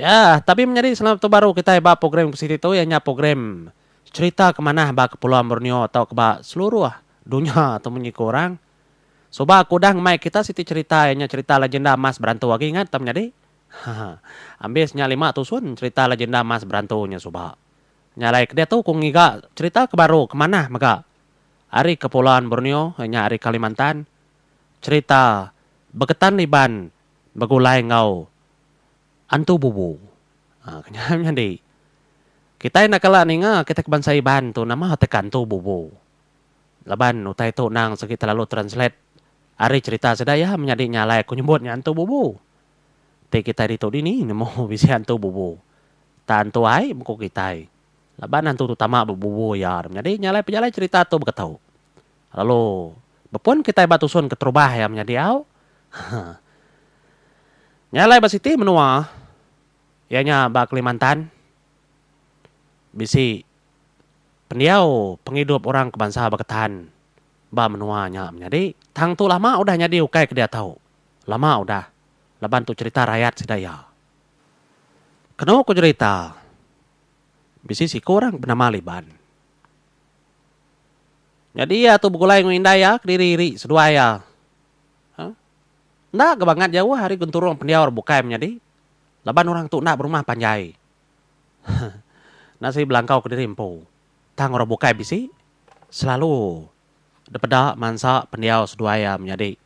Yah, tapi menyadi selalu tu baru kitai ba program ke siti tu iya nya program Cerita ke Manah ba Kepulauan Borneo tauka ba seluruh dunya tu munyi ku orang. Suba aku udah ngemai kita siti cerita iya nya cerita Legenda Mas Berantu agi ingat tau menyadi. Haha. Ambis nya lima tusun cerita Legenda Mas Berantu nya suba. Nya alai ke diatu ku ngiga cerita ke baru ke manah mega ari Kepulauan Borneo iya nya ari Kalimantan. Cerita Beketan Liban begulai enggau antu bubu. Haa kenyau nyadi. Kitai enda kala ninga kitai ke bansa Iban tu nama teka antu bubu. Laban utai tu endang segi telalu translate ari cherita sida iya menyadi nya alai aku nyebut nya antu bubu. Ti kitai ditu dini nemu bisi antu bubu. Tang antu ai mengku kitai. Laban antu tu tama bebubu iya menyadi nya alai pejalai cherita tu beketu. Lalu, bepun kitai ba tusun keterubah iya menyadi au. Nya alai ba siti menua, iya nya ba Kelimantan, bisi pendiau pengidup orang ke bansa Beketan ba menua nya menyadi. Tang tu lama udah nyadi ukai ke diatu. Lama udah. Laban tu cherita rayat sida iya. Kenu ku cherita, bisi siku orang ke benama Liban. Nyadi iya tu begulai enggau indai iya kediri iri seduai iya. Huh. Enda ke bangat jauh ari genturung pendiau bukai menyadi. Laban orang tu enda berumah panjai. Nasi belangkau kediri empu. Tang orang bukai bisi selalu dipeda mansa pendiau seduai iya menyadi.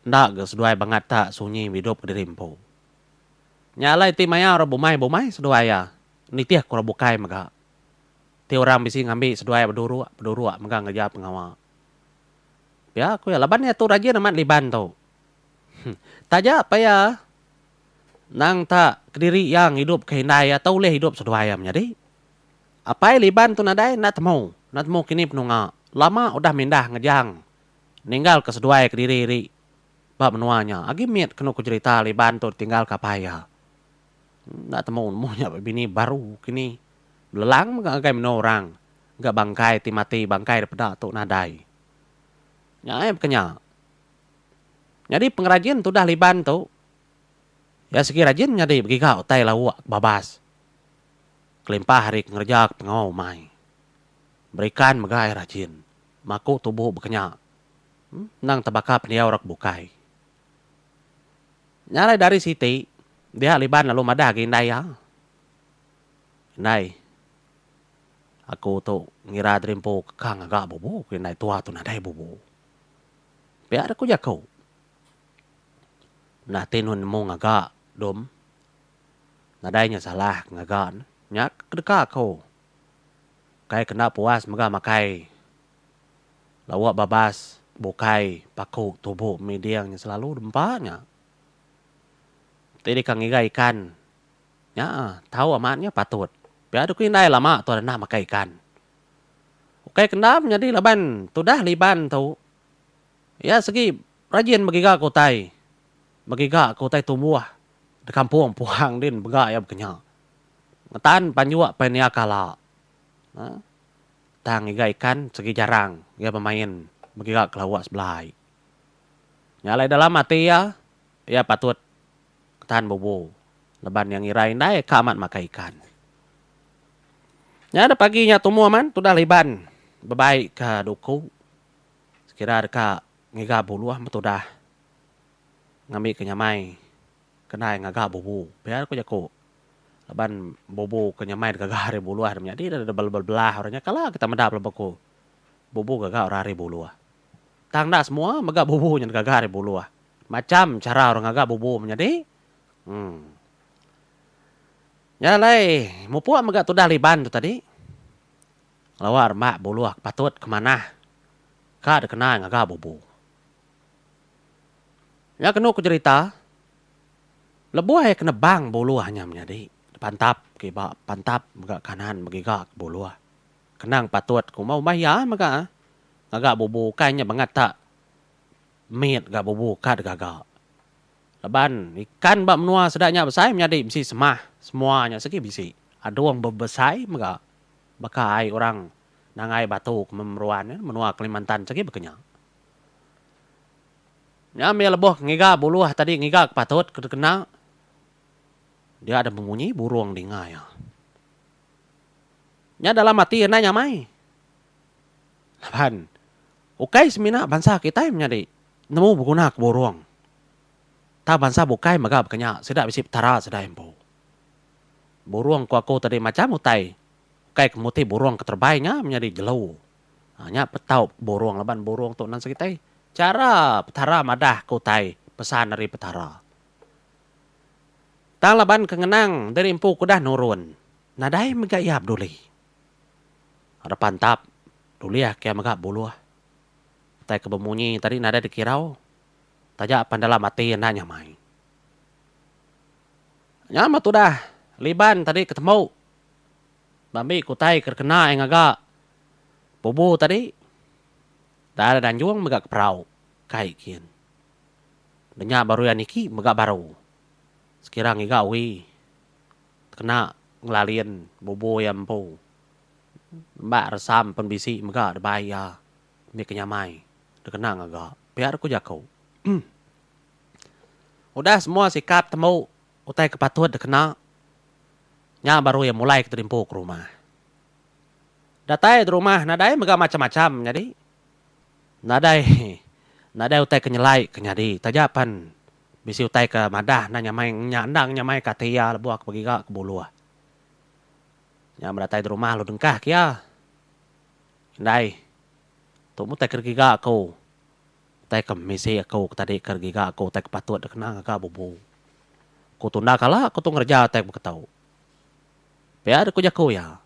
Enda ke seduai bangat ta sunyi behidup kediri empu. Nya alai ti maya orang bumai-bumai seduai iya nitihka orang bukai mega. Ti orang bisi ngambi seduai beduruk beduruk mega ngereja pengawa. Pia ku iya laban iya tu rajin amat liban tu. Huh. Taja pia nang ta kediri iya ngidup ke indai iya tu ulih idup seduai iya menyadi. Apai liban tu nadai enda temu, enda temu kini penunga. Lama udah mindah ngejang ninggal ke seduai kediri ri ba menua nya. Agi mit kenu ku jerita liban tu ditinggal ke apai iya. Enda temu nemu nya bini baru kini belelang mega ngagai menua orang ga bangkai ti mati bangkai da peda tu nadai. Nya ai baka nya. Nyadi pengrajin tudah Liban tu iya segi rajin nyadi begiga utai lauk ke babas kelimpah ari ngereja ke pengawa umai. Berikan mega ai rajin maku tubuh baka nya. Endang tebaka pendiau orang ke bukai. Nya alai dari siti, dia Iban lalu madah agi indai iya. Indai, aku tu ngira diri empu keka ngaga bubu, ku indai tua tu nadai bubu. Pia deh ku jaku. Nah ti nuan nemu ngaga, Dum. Nadai nya salah ngaga ne. Nya ke deka aku. Kai kena puas mega makai. Lawa babas bukai paku tubu miding nya selalu dempa nya. Ti deka ngiga ikan nya tau amat nya patut. Pia doku indai lama tuan enda makai ikan. Ukai ke enda menyadi laban tudah liban tu iya segi rajin begiga ke utai, begiga ke utai tumbuh di kampung puhang din mega iya baka nya. Ngetan panjuk painia kala. Nah. Tang iga ikan segi jarang iya bemain begiga ke lawa sebelah ai. Nya alai dalam ati iya, iya patut tahan bubu laban iya ngira indai ka amat makai ikan. Nya da pagi nya tumu aman tudah liban bebai ke duku sekira deka ngiga buluh meh tudah ngambika nyamai ke ndai ngaga bubu pia ku jaku laban bubu ke nyamai deka ga ari buluh nya nyadi deh bela belah orang nya kala kita meda pelaba ku bubu ke ga orang ari buluh. Tang enda semua mega bubu nyen ke ga ari buluh. Macham chara orang ngaga bubu menyadi emm. Nya alai mupuk mega tudah liban tu tadi lawa rema buluh ke patut ke manah ka dikena ngaga bubu. Nya kenu ku jerita Lebuh iya ke nebang buluh nya menyadi, depantap ke iba, pantap mega kanan begiga ke buluh. Kenang patut ke umbah-umbah iya mega ngaga bubu ukai nya bangat tak mit ga bubu ka digaga. Laban ikan ba menua sida nya besai menyadi bisi semah, semua nya segi bisi. Adung bebesai mega baka ai orang nangai batu ke memeruan nya menua Kalimantan segi baka nya. Nya meh lebuh ngiga buluh tadi ngiga ke patut ke dikena. Dia deh bemunyi burung dinga iya. Nya dalam ati iya nai nyamai. Laban ukai semina bansa kitai menyadi nemu beguna ke burung. Tang bansa bukai mega baka nya sida bisi petara sida empu. Burung ku aku tadi macam utai ukai ke muti burung ke terebai nya menyadi jelu. Ha nya petau burung laban burung tu nan sekitai chara Petara madah ke utai pesan ari Petara. Tang laban ke ngenang diri empu ke udah nurun, nadai mega iya peduli. Ra pantap dulihka iya mega buluh. Utai ke bemunyi tadi nadai dikirau taja pan dalam ati enda nyamai. Nya meh tudah Liban tadi ketembu. Ba mbi ke utai ke dikena iya ngaga bubu tadi, dai ari Danjung mega ke Perau, kai gin. Ba nya baru iya niki mega baru. Sekira ngiga uwi dikena ngelalin bubu iya empu. Nemba resam pen bisi mega dibai iya mbi ke nyamai dikena ngaga. Pia deka ku jaku. Udah semua sikap tembu. Utai ke patut dikena nya baru iya mulai ke terimpu ke rumah. Datai di rumah nadai mega macham-macham nyadi. Nadai nadai utai ke nyelai ke nyadi taja pan bisi utai ke madah endang nyamai nya endang nyamai ke ati iya lebuh ke begiga ke buluh. Nya men datai di rumah lalu dengkah ke iya. Indai. Tu meh utai ke digiga aku. Utai ke misi aku ke tadi ke giga aku utai ke patut dikena ngaga bubu. Ku Tunda kala aku tu ngereja utai ke beketu. Pia deh ku jaku iya.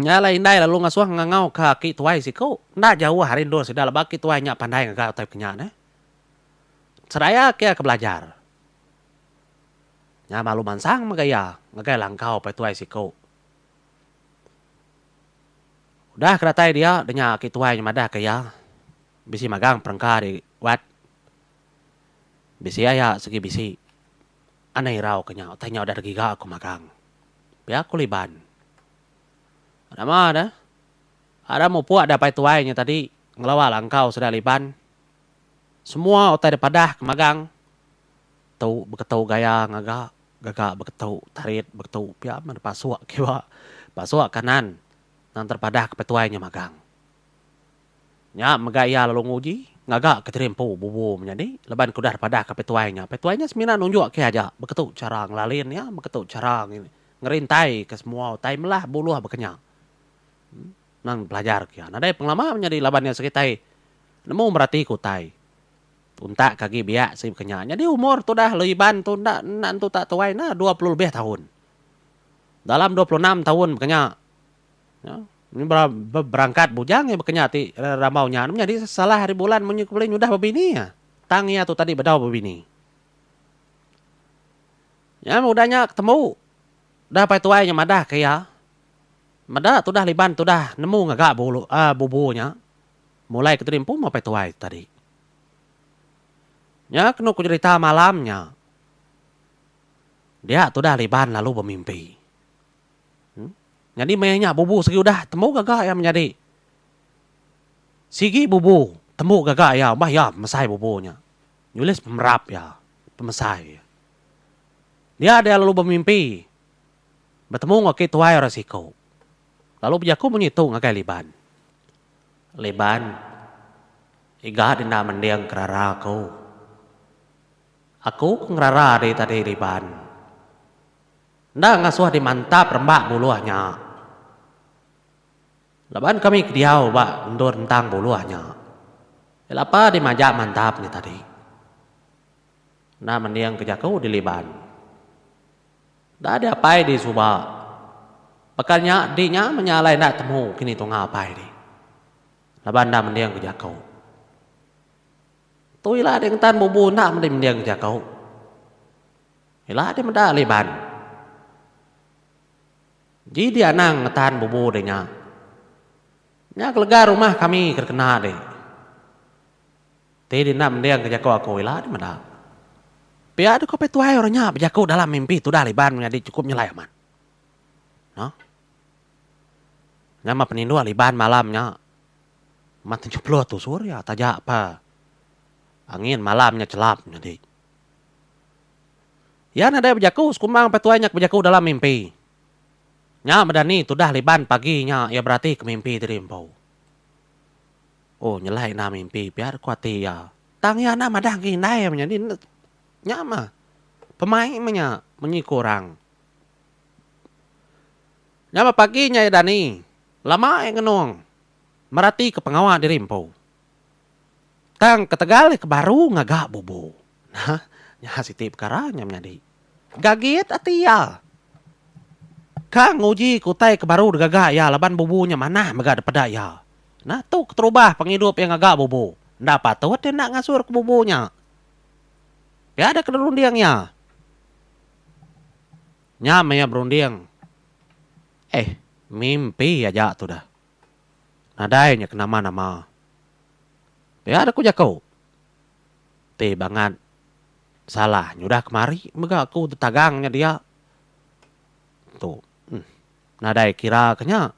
Nya alai indai lalu ngasuh ngangau ka aki tuai siku. Enda jauh ari endur sida laban aki tuai nya pandai ngaga utai ke nya neh. Sedaya ke iya ke belajar. Nya malu mansang mega iya ngagai langkau pai tuai siku. Udah ke datai dia, denya aki tuai nya madahka iya, bisi magang perengka di Wat. Bisi aya sigi bisi. Anai irau ke nya utai nya udah digiga aku magang. Pia ku Liban. Nama ne? Ada mupuk da pai tuai nya tadi ngelawa langkau sida Liban. Semua utai dipadah ke magang tu beketu gaya ngaga Gaga beketu tarit beketu pia meh dipasuk kiwa pasuk kanan nang terpadah ke petuai nya magang. Nya mega iya lalu nguji ngaga ke tiri empu bubu menyadi laban ke udah dipadaha ke petuai nya. Petuai nya semina nunjuk ke aja beketu chara ngelalin iya beketu chara ngerintai ke semua utai melah buluh baka nya. Nang dipelajar ke iya nadai pengelama menyadi laban iya sekitai nemu merati ke utai. Untak ke agi biak sri bekenya nyadi umur tudah Lui Iban tu enda enda nentu tak tuai enda dua puluh lebih taun. Dalam dua puluh enam taun bekenya nya be berangkat bujang iya bekenya ti rambau nya nemu nyadi salah ari Bulan munyi ku ulih nyudah bebini iya tang iya tu tadi bedau bebini. Nya meh udah nya ketembu udah pai tuai nya madah ke iya meda tudah Iban tudah nemu ngaga bulu aaa bubu nya mulai ke diri empu meh pai tuai tadi. Nya kenu ku nyerita malam nya. Dia tudah ari Iban lalu bemimpi. Nyadi meh nya bubu sigi udah tembu gaga iya menyadi. Sigi bubu tembu gaga iya obah iya pemesai bubu nya. Nulis pemerap iya pemesai iya. Dia dia lalu bemimpi betemu enggau aki tuai orang siku. Lalu bejaku munyi tu ngagai Iban. Liban, iga dina mending kerara aku. Aku ke ngerara diri tadi Liban. Enda ngasuh dimantap rembak buluh nya. Laban kami ke diau ba endur entang buluh nya. Iya lapa dimajak mantap nya tadi. Enda mending ke jaku di Liban. Enda ada apai di suba. Baka nya enti nya meh nya alai enda temu kini tunga apai di. Laban enda mending ke jaku. Tu ila di ngetan bubu enda mending mending ke jaku. Ila di meda ali iban. Ji di anang ngetan bubu di nya. Nya kelega rumah kami ke dikena di. Ti dina mending ke jaku aku ila nih meda. Pia deka pe tuai orang nya bejaku dalam mimpi tudah Liban menyadi chukup nyelai amat. Noh. Nyama peninduh Liban malam nya ma tujuh puluh tusur iya taja pa angin malam nya chelap nyadi. Iya nadai bejaku sekumbang pe tuai nya ke bejaku dalam mimpi. Nya meda ni tudah Liban pagi nya iya beratika mimpi diri empu. Oh nyelai enda mimpi pia ku ati iya. Tang iya enda madah engka indai meh nyadi ne nya meh pemai meh nya munyi ku orang. Nya meh pagi nya iya dani lama iya ngenung meratika pengawa diri empu. Tang ketegal iya ke baru ngaga bubu. Nah, nya siti pekara nya menyadi. Gagit ati iya. Ka nguji ke utai ke baru digaga iya laban bubu nya manah mega dipeda iya. Nah, tu keterubah pengidup iya ngaga bubu. Enda patut iya enda ngasurka bubu nya. Pia deka dirunding iya. Nyam iya berunding. Eh, mimpi aja tudah. Nadai nya ke nama-nama. Pia deka ku jaku. Ti bangat salah nya udah kemari mega aku ditagang nya dia. Tu uhh nadai kira ke nya.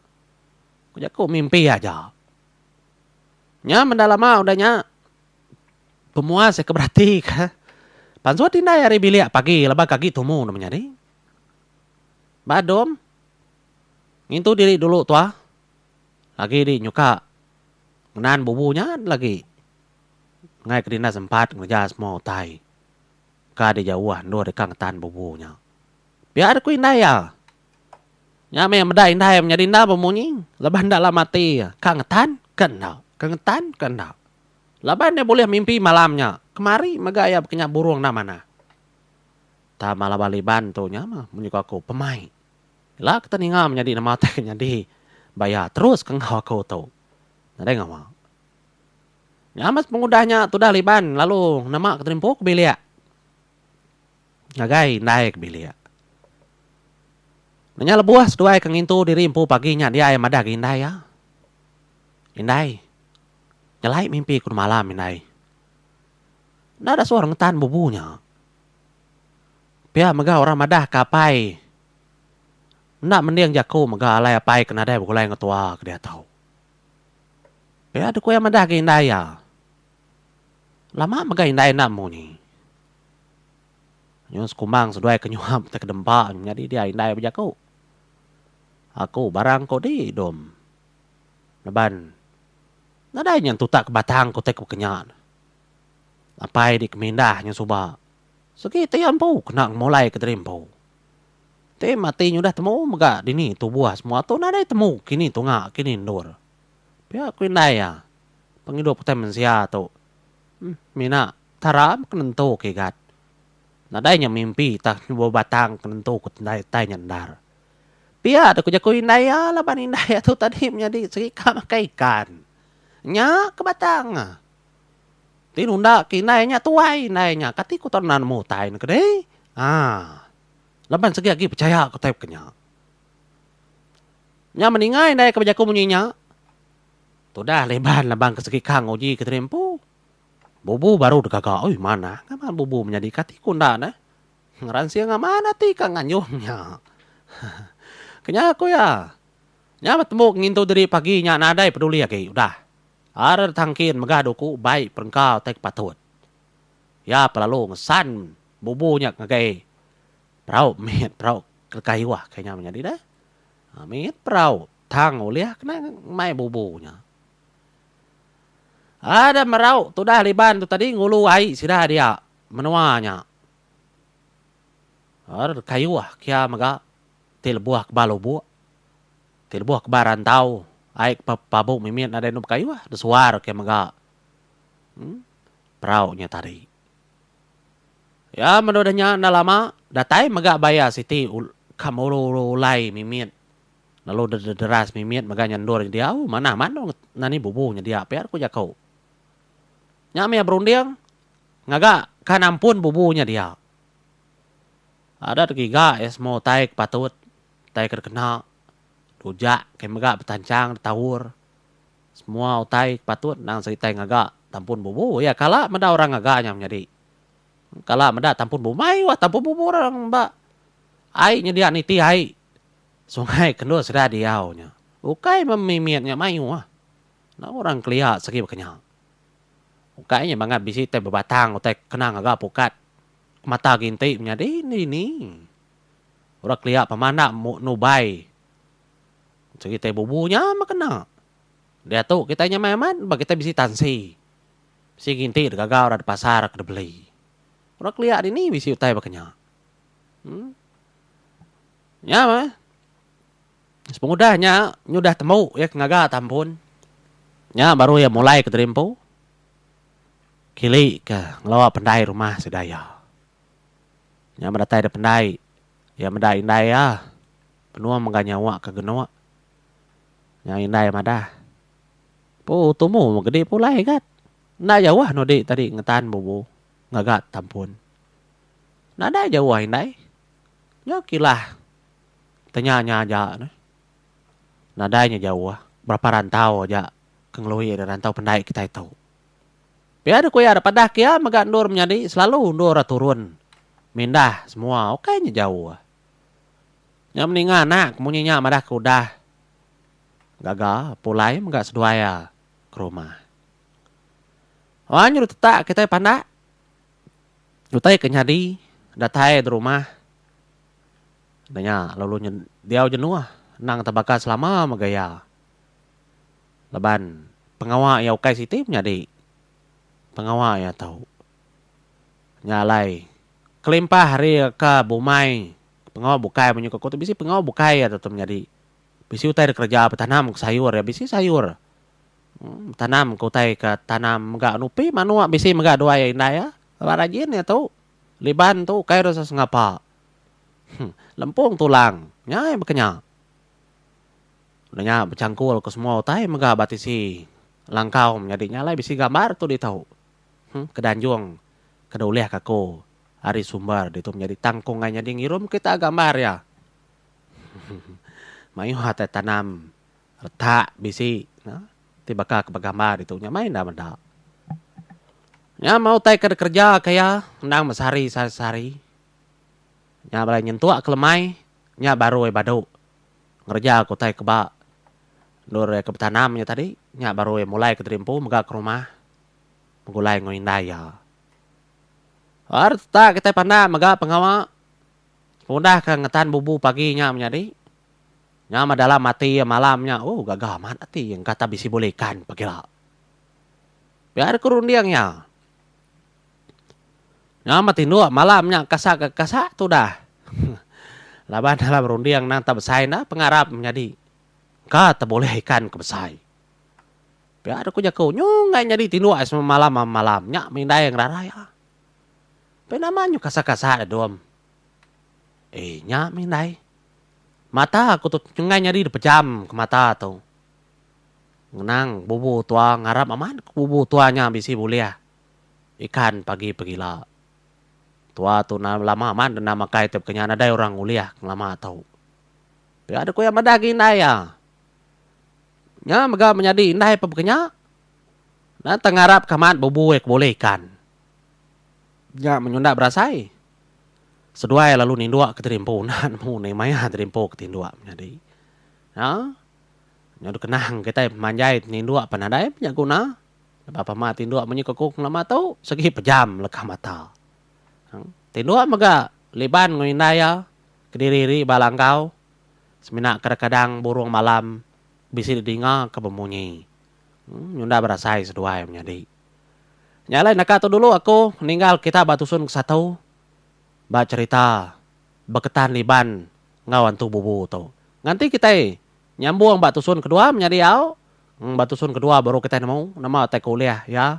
Ku jaku mimpi aja. Nya menda lama udah nya pemuas aku berati ke pansut indai ari bilik pagi laban ke agi tumu ne meh nyadi. Ba dom ngintu diri dulu tuah agi di nyuka ngenan bubu nya lagi. Enggai ke dina sempat ngereja semua utai ka di jauh endur deka ngetan bubu nya. Pia ari ku indai iya, nya meh meda indai menyadi enda bemunyi leban enda lama ati iya ka ngetan ka enda, ka ngetan ka enda. Laban iya bulih mimpi malam nya, kemari mega iya baka nya burung enda manah. Tama laban Iban tu nya meh mun nyuka aku pemai. Ila ke teninga menyadi nama utai ke nyadi ba iya terus ke enggau aku tu. Nadai ngawa. Nyames pengudah nya tudah Liban lalu nema ke terimpu ke bilik. Ngagai indai ke bilik. Nanya lebuh seduai ke ngintu diri empu pagi nya dia iya madah ke indai iya. Indai. Nyelai mimpi ku malam indai. Enda ada suah rengetan bubu nya. Pia mega orang madah ke apai enda mending jaku mega alai apai ke nadai begulai enggau tua ke diatu. Pia deh ku iya madah ga indai iya. Lama mega indai enda munyi. Nyun sekumbang seduai ke nyuhap nta ke dempa nyadi dia indai bejaku. Aku barang ko di dom laban nadai nyun tutak ke batang ku tai ku baka nya. Apai di ke mindah nyun suba segi ti iya empu kena ngemulai ke diri empu. Ti mati nyudah temu mega dini tubuh semua tu nadai temu kini tunga kini endur. Pia ku indai iya, pengidup utai mensia tu mina tara ke nentu ke igat. Nadai nya mimpi tah nyubuh batang ke nentu ke tendai utai nya endar. Pia deh ku jaku indai iya laban indai iya tu tadi menyadi segi ka makai ikan. Nya ke batang ne. Ti nunda ke indai nya tuai indai nya kati ku tau nemu utai ne ke deh. Haa. Laban segi agi pechaya ke utai baka nya. Nya meningai indai ke bejaku munyi nya, tudah Leban laban ke segi kang uji ke tiri empu. Bubu baru digaga, oi manah amat bubu menyadi ke ati ku enda neh. Ngeransing amat ati ka nganjung nya. Kenya ku iya. Nya betembu ke ngintu diri pagi nya nadai peduli agi udah. Ara tangkin mega duku bai perengka utai ke patut. Iya pelalu ngesan Bubu nya ngagai perau mit perau kelekah iwah kai nya menyadi deh. Mit perau tang ulih kena mai bubu nya. Ada merau tudah liban tu tadi ngulu ai sida dia menua nya. Ar kelekah iwah kia mega ti lebuh keba lubok ti lebuh keba rantau ai ke pabu mimit nadai anu beka iwah besuar ke mega. Em perau nya tadi. Ya menu udah nya enda lama datai mega baya siti ka muru-uru ulai mimit lalu deras mimit mega nya endur nya diau manah manu enda ni bubu nyedia pia ku jaku. Nya mih iya berunding ngaga ka nampun bubu nya dia. Adat giga iya semua utai ke patut utai ke dikena rujak ke mega betancang ditaur. Semua utai ke patut endang seritai ngaga tampun bubu iya kala meda orang ngaga nya menyadi. Kala meda tampun bubu mai wah tampun bubu orang ba ai nyedia niti ai sungai kendur sida diau nya. Ukai meh mimit nya mayuh ah. Enda orang kelia segi baka nya. Ukai nya bangat bisi utai bebatang utai kena ngaga pukat mata ginti menyadi dini. Orang kelia pemanda nubai. Cheritai bubu nya meh kena. Diatu kitai nyamai amat ba kitai bisi tansi. Bisi nginti degagau rak dipasar rak dibeli. Orang kelia dini bisi utai baka nya. Em. Nya meh. Sepengudah nya nyudah tembu iya ke ngaga ta ampun. Nya baru iya mulai ke terimpu. Kilika ngelawa pendai rumah sida iya. Nya medatai da pendai iya meda indai iya. Penua mega nyawa ke geno. Nyau indai madah. Pu tumu gedi pulai gat. Enda jauh nudi tadi ngetan bubu ngaga tampun. Nadai jauh indai. Nyau kilah tenya nya aja neh. Nadai nya jauh. Berapa rantau aja ke ngelui ari rantau pendai kitai tu. Pia deh ku iya deh padah ke iya mega endur menyadi selalu endur ra turun mindah semua ukai nya jauh. Nya meninga anak munyi nya madah ke udah gaga pulai mega seduai iya ke rumah. Wang nyudah tetak kitai pandak utai ke nyadi datai di rumah ne nya lalu diau jenuh nang tebaka selama mega iya. Laban pengawa iya ukai siti menyadi pengawa iya tau. Nya alai, kelimpah ari reka bumai, pengawa bukai menyuka ku tu bisi pengawa bukai iya tu menyadi. Bisi utai dikereja betanam ke sayur iya bisi sayur. Em betanam ke utai ke tanam mega nupi manuk bisi mega dua iya indai iya. Ba rajin iya tu. Liban tu ukai deh sesengapa. Huh lempung tulang nya iya bekenya. Udah nya bechangkul ke semua utai mega ba tisi langkau menyadi nya alai bisi gambar tu ditu. ke danjung ke dah ulih ka aku ari sumber ditu menyadi tangkung ai nyadi ngirum kita gambar iya. Mayuh atai tanam retak bisi ne ti baka ke begambar ditu nya mai enda meda. Nya meh utai ke dikereja ka iya endang besehari sa sehari. Nya bala nyentuk ke lemai nya baru ai badu ngereja ka utai ke ba endur iya ke betanam nya tadi nya baru ai mulai ke tadi empu mega ke rumah. begulai enggau indai iya. Ba retak kitai pandak mega pengawa semudahka ngetan bubu pagi nya menyadi. Nyama dalam ati iya malam nya, ooh gaga amat ati iya engka tan bisi bulih ikan pekira. Pia deka runding iya. Nyama tinduk malam nya kasa ke kasa tudah. Laban dalam runding nang tak besai enda pengarap menyadi. Engka tan bulih ikan ke besai. Pia deka jaku nyu enggai nyadi tinduk ai semalam malam nya meh indai ngerarai ha. Pia nama nyu kasar kasar da dom. Ei nya meh indai. Mata aku tu enggai nyadi dipejam ke mata tu. Ngenang bubu tua ngarap amat ku bubu tua nya bisi bulih ikan pagi pegila. Tua tu na lama amat denda makai tauka nya nadai orang ngulih ngelama tu. Pia deka madah agi indai ha. Nya mega menyadi indai pebega nya na tang ngarap ke amat bebui ke boleh ikan. Nya menyunda berasai seduai lalu nindok ke diri empu enda nemu nai maya diri empu ke tindok menyadi nya. Nyau dikenang kitai pemanjai nindok pan nadai nya guna lebuh amat tindok munyi ke ku pengelama tu segi pejam leka mata. Tindok mega liban enggau indai iya kediri ri ba langkau. semina kadang-kadang burung malam bisi didingaka bemunyi nyunda berasai seduai menyadi. Nya alai naka tu dulu aku ninggal kita ba dusun ke satu ba cherita Beketan Liban enggau Antu Bubu tu. Nganti kitai nyambung ba dusun kedua menyadi au ba dusun kedua baru kitai nemu nama utai ke ulih iya